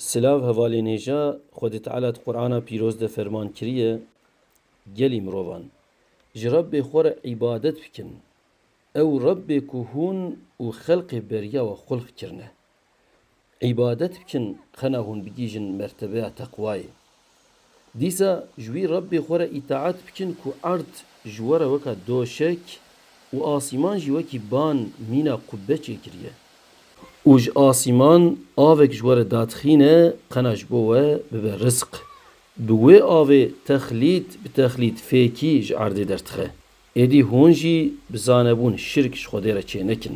Silav hevalên hêja, Xwedê Teala di Qur'ana pîroz de ferman kiriye gelî mirovan, ji Rebbê xwe re îbadet bikin, ew Rebbê ku hûn û xelqê beriya we xulq kirine, îbadet bikin qena hûn bigihîjin mertebeya teqwayê. Dîsa ji wî Rebbê xwe re îtaet bikin ku erd ji we re weka doşek û asîman jî wekî ban mîna qubbe çêkiriye. Û ji asîman avek ji we re dadixîne qena ji bo we bibe rizq. Bi wê avê texlît bi texlît fêkî ji erdê derdixe. Êdî hûn jî bi zanebûn şirk ji Xwedê re çênekin.